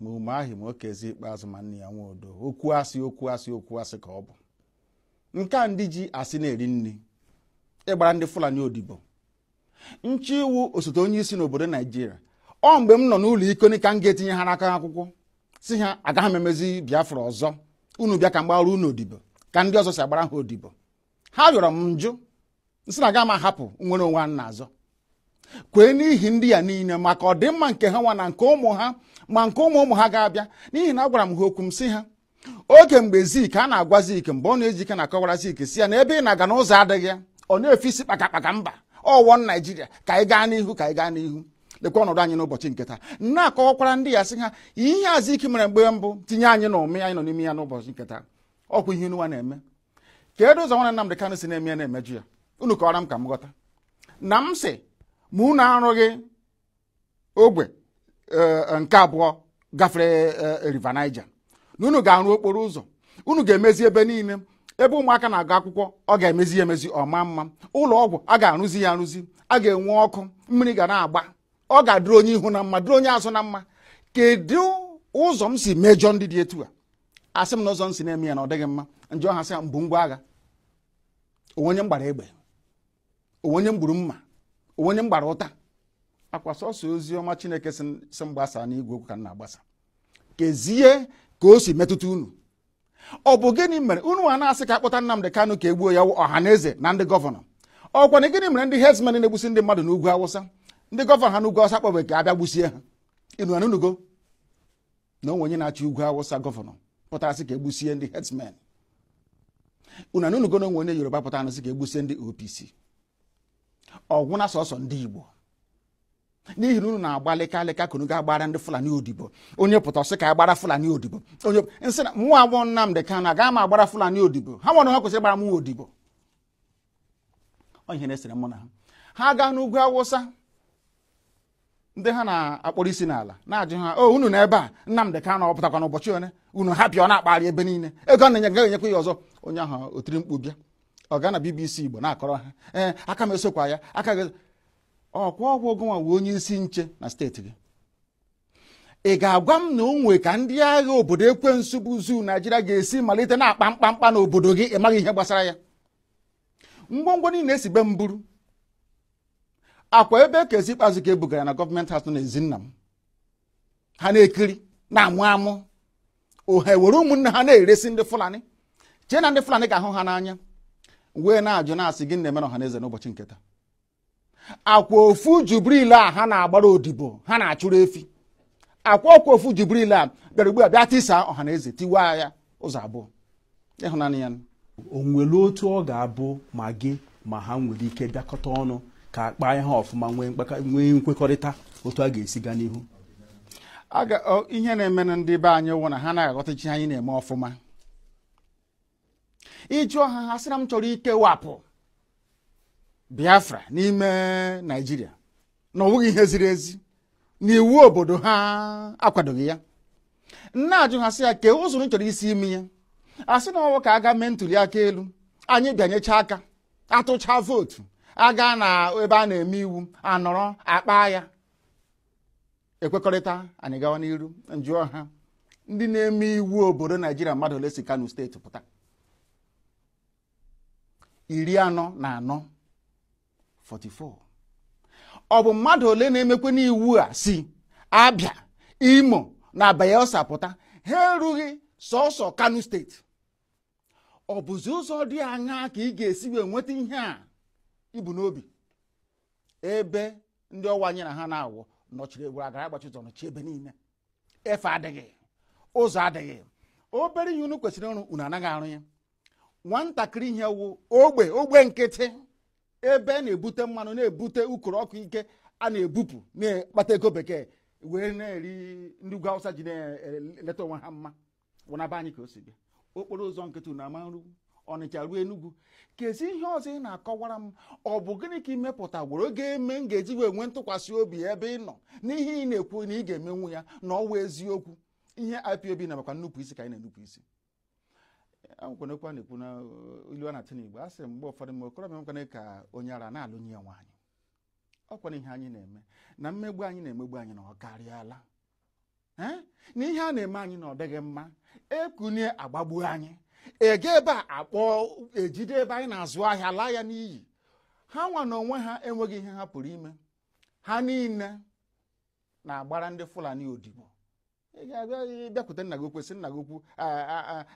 ma umahi ma okezie ikpeazụ ma nnia nwodo okwu asị okwu asị okwu asị ka ọ bụ nke a ndị ji asị na-eri nri ịgbara ndị fulani odibo nche iwu osote onye isi n'obodo naijiria ọ mgbe m nọ n'ụlọ ikoni ka m ga-etinyere ha aka n'akwụkwọ sị ha agaghị m emezi biafra ọzọ unu bịa ka m gbara unu odibo ka ndị ọzọ si agbara ha odibo ha yọrọ m m jụ m sị na aga m ahapụ nnwere onwe a na-azọ kwee n'ihi ndị ya niile maka ọdịmma nke ha nwa na nke ụmụ ha ma nke ụmụ ụmụ ha ga-abịa n'ihi na agwara m ha okwu m sị ha oge mgbe zik a na-agwa zik mbonu ojike na-akọwara zik sị ya na ebe ị na-aga na ụzọ adịghị ya ọ na-efe isi kpakakpaka mba ọ one naijiria ka anyị gaa n'ihu ka anyị gaa n'ihu lekwa ọnọdụ anyị n'ụbọchị nke taa na-akọwakwara ndị a sị ha ihe azikiwe mere mgbe mbụ tinye anyị na ụmị anyị nọ n'ime ya n'ụbọchị nke taa ọkwa ihe unu nwa na-eme kedu ụzọ nwana Nnamdị Kanụ si na-eme ya na-emejọ ya unu kọwara m ka m ghọta na m sị ma unu arụghị ogwe e, nke abụọ gafere e, River Niger na unu ga-arụ okporo ụzọ unu ga-emezi ebe niile ebe ụmụaka na-agụ akwụkwọ ọ ga-emezi ya emezi ọ maa mma ụlọ ọgwụ a ga-arụzi ya arụzi a ga-enwe ọkụ mmiri ga na-agba ọ ga-adịrị onye ihu na mma dịrị onye azụ na mma kedu ụzọ m si mejọ ndị dị etu a asị m na ụzọ m si na-eme ya na ọ dịghị mma m jụọ ha sị ha m bu ngwa agha o nwe onye m gbara egbe o nwe onye m gburu mma o nwe onye m gbara ụta ọkwa sọsọ ozi ọma chineke sị sị m gbasa n'igwe okwu ka m na-agbasa kezie ka o si metụta unu ọ bụ gịnị mere unu a na-asị ka a kpọta Nnamdị Kanụ ka e gbuo ya wụ ọha na eze na ndị gọvanọ ọkwa na gịnị mere ndị herdsmen na-egbusi ndị mmadụ n'ugwu awụsa ndị gọvanọ ha n'ugwu awụsa akpọbeghị ka a bịa gbusie ha unu anụgo na o nwe onye na-achị ugwu awụsa gọvanọ pụtara sị ka e gbusie ndị herdsmen unu anụgo na o nwe onye yoruba pụtara sị ka e gbusie ndị opc ọ gwụna sọsọ ndị igbo n'ihi na unu na-agba lịka lịka ka unu ga-agbara ndị fulani odibo onye pụta ọ sị ka a gbara fulani odibo onye m sị na mụ nwa wụ nnamdị kanụ agaghị m agbara fulani odibo ha nwa na ha kwesịrị ịgbara mụ odibo ọ ihe na-esere mụ na ha ha gaa n'ugwu awụsa ndị ha na-akpọrọ isi n'ala na-ajụ ha o unu nọ ebe a Nnamdị Kanu ọ pụtakwa n'ụbọchị ole unu hapụ ya ọ na-akpagharị ebe niile ego a na-enye ya agaghị enyekwa ya ọzọ onye ahụ o tiri mkpu bịa ọ gaa na BBC Igbo na-akọrọ ha ee aka m esokwa ya aka gị ọkwa ọ wụ gị nwa wụ onye isi nche na steeti gị ị ga-agwa m na o nwe ka ndị agha obodo ekwensu bụ zoo naijiria ga-esi malite na-akpa mkpamkpa n'obodo gị ị maghị ihe gbasara ya ngwongwo niile e si be m buru ọkwa ebe okezie ikpeazụ ka e bugara na gọọmenti house n'ezi nna m ha na-ekiri na-amụ amụ ha were ụmụnne ha na-eresi ndị fulani chee na ndị fulani ga-ahụ ha n'anya wee na-ajụ na-asị gịnị na-eme ọha na eze n'ụbọchị nke taa akwa ofu jubril a ha na-agbara odibo ha na-achụrụ efi akwa ọkwa ofu jubril a bịara ugbu a bịa tisa ọhanaeze tiwa ya ụzọ abụọ ịhụnanya ya o nwere otu ọ ga-abụ ma gị ma ha nwere ike bịakọta ọnụ ka a kpaa ihe ọfụma nwee nkwekọrịta otu a ga-esi gaa n'ihu ihe na-eme na ndị be anyị wụ na ha anaghị aghọtacha ihe anyị na-eme ọfụma ị jụọ ha ha sị na m chọrọ ikewapụ biafra n'ime naijiria na ọ bụghị ihe ziri ezi na iwu obodo ha akwadoghị ya m na-ajụ ha sị ya kee ụzọ unu chọrọ isi eme ya a sị na ọ wụ ka a gaa mee ntuli aka elu anyị bịanyecha aka a tụcha vootu a gaa na ebe a na-eme iwu a nọrọ a kpaa ya e kwekọrịta anyị gawa n'iru m jụọ ha ndị na-eme iwu obodo naijiria mmadụ ole si kano steeti pụta iri anọ na anọ 44 ọ bụ mmadụ ole na-emekwanụ iwu a si abia imo na bayelsa pụta ha erughị sọsọ kano steeti ọ bụzi ụzọ dị aṅaa ka ị ga-esi wee nweta ihe a i bu n'obi ebe ndị ọ wụ anyị na ha na-awụ nọchiri were agara agbachi ụzọ nọchi ebe niile efe adịghị ụzọ adịghị obere ihe unu kwesịrị ịrụ unu anaghị arụ ya nwatakịrị ihe wụ ogbe ogbe nkịtị ebe a na-ebute mmanụ na-ebute ukoro ọkụ nke a na-ebupụ na-akpata ego bekee wee na-eri ndị ugwu awụsa ji na-eleta onwe ha mma wụ na be anyị ka o si bịa okporo ụzọ nkịtị unu ama nru ọnịcha ruo enugwu kezi ihe ọzọ ị na-akọwara m ọ bụ gịnị ka i mepụtagworo ga-eme m ga-eji wee nwee ntụkwasị obi ebe ị nọ n'ihe ị na-ekwu na ị ga-emenwu ya na ọ wụ eziokwu ihe IPOB na maka nnupụ isi ka anyị na-enupụ isi akwụkwọ na-ekwu na uh, ilu a na-atụ n'igbo a sị mgbe ụfọdụ mgbe okorobịa nwoke ka onye ara na-alụnye ya nwaanyị ọ kwara ihe anyị na-eme na mmegbu anyị na-emegbu anyị na ọ karịala eh, na ihe a na-eme anyị na ọ dịghị mma e kunie a gbagbuo anyị ege ebe a akpọ e jide ebe anyị na-azụ ahịa laa ya n'iyi ha nwa na onwe ha enweghị ihe ha pụrụ ime ha niile na-agbara ndị Fulani odibo ị ga-abịa bịakwute nna gị ukwu sị nna gị ukwu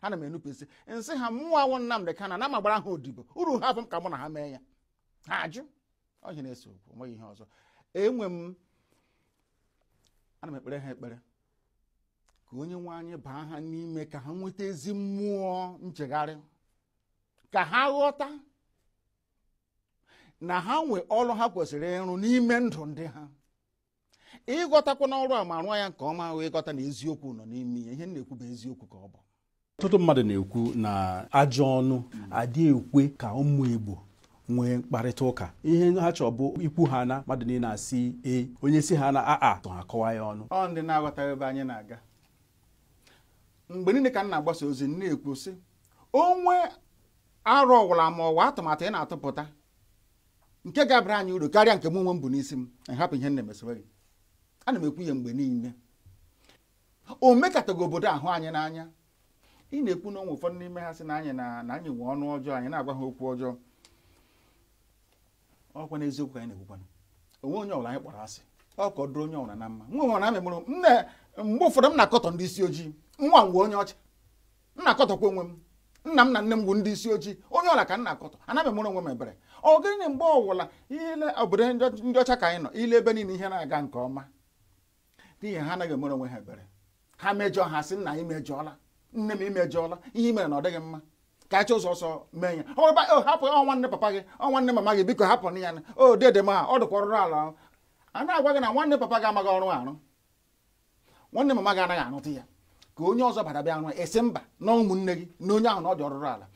ana m enupụ isi m sị ha mụwa wụ Nnamdị Kanu na m ama agbara ha odibo ọrụ ha afọ m ka mụ na ha mee ya ha ajụ ọ ihe na-ese okwu nweghị ihe ọzọ enwe m ana m ekpere ha ekpere ka onye nwe anyị baa ha n'ime ka ha nweta ezi mmụọ nchegharị ka ha ghọta na ha nwe ọrụ ha kwesịrị ịrụ n'ime ndụ ndị ha ịghọtakwanụ ọrụ a ma rụọ ya nke ọma ahụ ịghọta na eziokwu nọ n'ime ya ihe m na-ekwu bụ eziokwu ka ọ bụ ọtụtụ mmadụ na-ekwu na ajọ ọnụ adị ekwe ka ụmụ Igbo nwee mkparịta ụka ihe ha chọrọ bụ ikwu ha na mmadụ niile asị ee onye sị ha na aa tụ ha kọwa ya ọnụ ọ ndị na-aghọtaghị ebe anyị na-aga mgbe niile ka m na-agbasa ozi m na-ekwu sị o nwee aro ọwụla ma ọ wụ atụmatụ ị na-atụpụta nke ga-abara anyị uru karịa nke m onwe m bu n'isi m hapụ ihe m na-eme sowe gị ana m ekwu ya mgbe niile o mekataghị obodo ahụ anyị n'anya ị na-ekwu na o nwe ụfọdụ n'ime ha sị na anyị na anyị nwee ọnụ ọjọọ anyị na-agwa ha okwu ọjọọ ọ kwa eziokwu ka anyị na-ekwukwana o nwee onye ọbụla anyị kpọrọ asị ọ ka ọ dụrụ onye ọbụla na mma nwa nwere amị mụrụ m na mgbe ụfọdụ m na-akọtọ ndị isi ojii nwa m onye ọcha m na-akọtọkwa onwe m nna m na nne m bụ ndị isi ojii onye ọwụla ka m na-akọtọ anaghị m emere onwe m ebere ọ gịnị mgbe ọwụla i lee obodo ndị ọcha ka anyị nọ i lee ebe niile ihe na-aga nke ọma n'ihi ha anaghị emere onwe ha ebere ha mejọọ ha sị nna i mejọọla nne m i mejọọla ihe i mere na ọ dịghị mma ka a chọọ ụzọ ọzọ mee ya ọ ba o hapụ ọ nwanne papa gị ọ nwanne mama gị biko hapụnụ ya na ọ dede m ha ọ dịkwa ọrụrụ ala ahụ. a na-agwa gị na nwanne papa gị amaghị ọrụ arụ nwanne mama gị anaghị arụta ya ka onye ọzọ bata bịa rụọ a sị mba na ụmụnne gị na onye ahụ na ọ dị ọrụrụ ala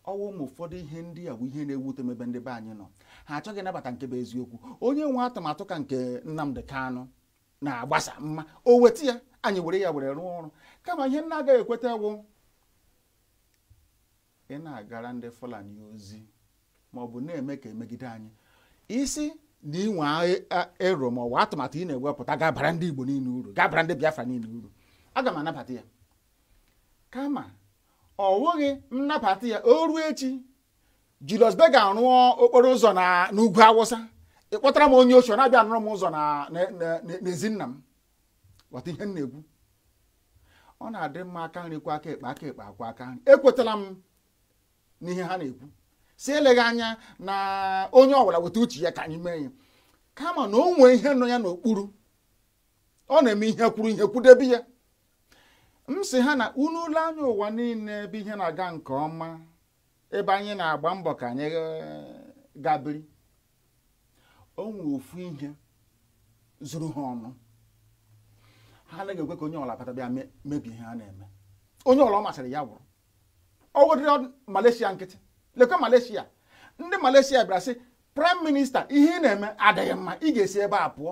ọ wụ ụmụ ụfọdụ ihe ndị a bụ ihe na-ewute m ebe ndị be anyị nọ ha achọghị ịnabata nke bụ eziokwu onye nwee atụmatụ ka nke Nnamdi Kanu na-agbasa mma o weta ya anyị were ya were rụọ ọrụ kama ihe m na-agaghị ekweta wụ ị na-agara ndị Fulani ozi ma ọ bụ na-eme ka e megide anyị ị sị na i nwe aro ma ọ bụ atụmatụ ị na-ewepụta ga-abara ndị Igbo niile uru ga-abara ndị Biafra niile uru aga m anabata ya kama ọ wụghị m nabata ya o ruo echi Julius Berger rụọ okporo ụzọ n'ugwu Awụsa ị kpọtara m onye oshi na-abịa arụrụ m ụzọ n'ezi nna m ghọta ihe m na-ekwu ọ na-adị mma aka nri kwọọ aka ekpe aka ekpe akwọọ aka nri ekwetala m n'ihe ha na-ekwu sị eleghị anya na onye ọbụla weta uche ya ka anyị mee ya kama na o nwee ihe nọ ya n'okpuru ọ na-eme ihe kwụrụ ihe kwụdebe ya m sị ha na unu lee anya ụwa niile ebe ihe na-aga nke ọma ebe anyị na-agba mbọ ka anyị eh, gaa biri o nwere ofu ihe zuru ha ọnụ ha anaghị ekwe ka onye ọwụla bata bịa mebie ihe ha na-eme onye ọwụla ọ masịrị ya wụrụ ọ wụdịrị Malaysia nkịtị lekwa Malaysia ndị Malaysia bịara sị praịm minista ihe ị na-eme adịghị mma ị ga-esi ebe a pụọ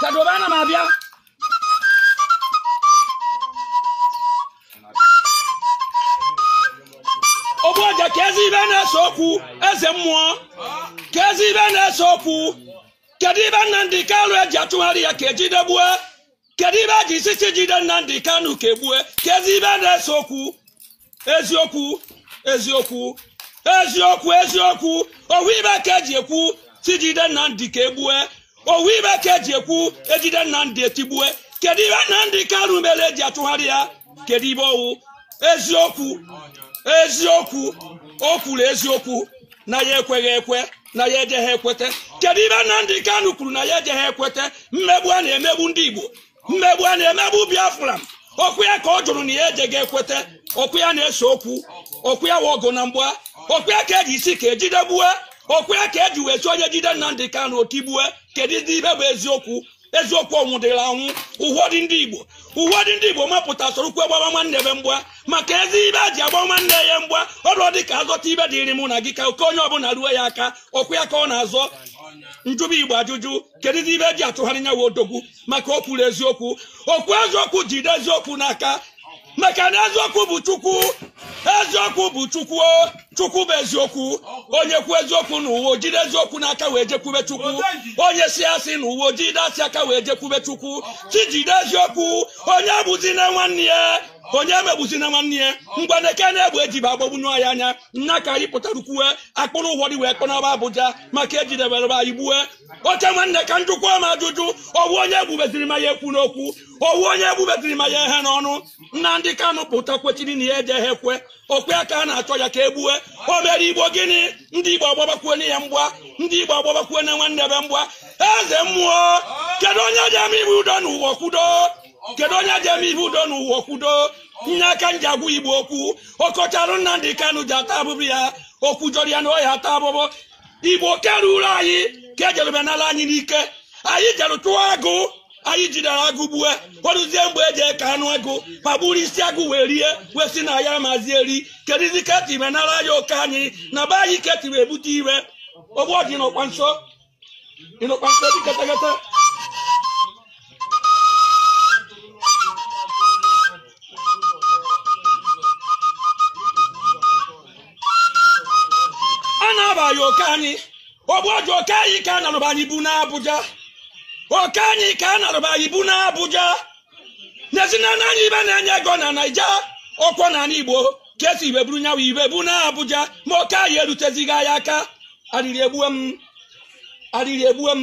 Kadobe ana m abịa ogbu ọja kezi ibe na-ese okwu eze mmụọ kezi ibe na-ese okwu kedu ibe Nnamdi Kanu eji achụgharị ya ka e jide gbue kedu ibe eji si si jide Nnamdi Kanu ka e gbue kezi ibe na-ese okwu eziokwu eziokwu eziokwu eziokwu ọ wụ ibe ka eji ekwu si jide Nnamdi ka e gbue ọ wụ ibe ka eji ekwu e jide Nnamdi e tigbue kedu ibe Nnamdi Kanu mere eji achụgharị ya kedu ibe ọ wụ eziokwu eziokwu o kwuru eziokwu na ya ekweghị ekwe na ya ejeghị ekwete kedu ibe Nnamdi Kanu kwuru na ya ejeghị ekwete mmegbu a na-emegbu ndị Igbo mmegbu a na-emegbu Biafra ọkwa ya ka ọ jụrụ na ya ejeghị ekwete ọkwa ya na-ese okwu ọkwa ya wụ ọgụ na mgba ọkwa ya ka eji asị ka e jide gbue ọkwa ya ka eji wee si onye jide Nnamdi Kanu o tigbue kedu ibe bụ eziokwu eziokwu ọ nwụdịrị anwụ ụfọdụ ndị igbo ụfọdụ ndị igbo mapụta sorokwu gbaba nwanne be mgba maka ezi ibe eji agba nwanne ya mgba ọ wụdị ka a zọta ibe dịrị mụ na gị ka oke onye ọbụla ruo ya aka ọkwa ya ka ọ na-azọ m jụba igbo ajụjụ kedụzi ibe eji achụgharị nyawa odogwu maka o kwuru eziokwu o kwu eziokwu jide eziokwu n'aka maka na eziokwu bụ chukwu eziokwu bụ chukwu o, chukwu bụ eziokwu onye kwu eziokwu n'ụwa o jide eziokwu n'aka wee jekwube chukwu onye si asị n'ụwa o jide asị aka wee jekwube chukwu chi jide eziokwu onye egbuzina nwanne ya onye emegbuzina nwanne ya ngwa na eke na-egbu ejibe agbagbunye anyị anya nna ka anyị pụtara kwuwe a kpụrụ ụfọdụ wee kpọnaba abuja maka ejidebere anyị gbue oke nwanne ka m jụkwa ma ajụjụ ọ wụ onye egbubeziri ma ya ekwuna okwu ọ wụ onye egbubeziri ma ya eghena ọnụ Nnamdi Kanu pụta kwechiri na ya ejeghị ekwe ọkwa ya ka a na-achọ ya ka e gbue o mere igbo gịnị ndị igbo agbabakwuo na ya mgba ndị igbo agbabakwuo na nwanne be mgba eze mmụọ kedu onye ji eme ibe udo n'ụwa kwudo kedu onye ji eme ibe udo n'ụwa kwudo nya ka m ji agwa igbo okwu ọkọcharụ Nnamdi Kanu ji ata afụfụ ya okwu jọrọ ya na ọ ya-ata afụfụ igbo keruru anyị ka ejerube n'ala anyị n'ike anyị jere chụọ agụ anyị jidere agụ gbue o ruzie mgbe eji eke anụ agụ ba buru isi agụ wee rie wee si na anyị amazi eri kedụzi ka etibe nara ya oke anyị na be anyị ka etibe ebute iwe ogbu ọdị n'ọkwa nso ịnọkwa nso dị ketekete a na-abaghị oke anyị ogbu ọjụ oke anyị ka a narụba anyị bu n'Abuja oke anyị ka a narụba anyị bu n'Abuja n'ezinụlọ anyị ihe na-enye ego na naija ọkwọ na ala igbo ka e si ibe buru nyawa ibe bu na abuja ma oke anyị erutezighị anyị aka arịrị egbue m arịrị egbue m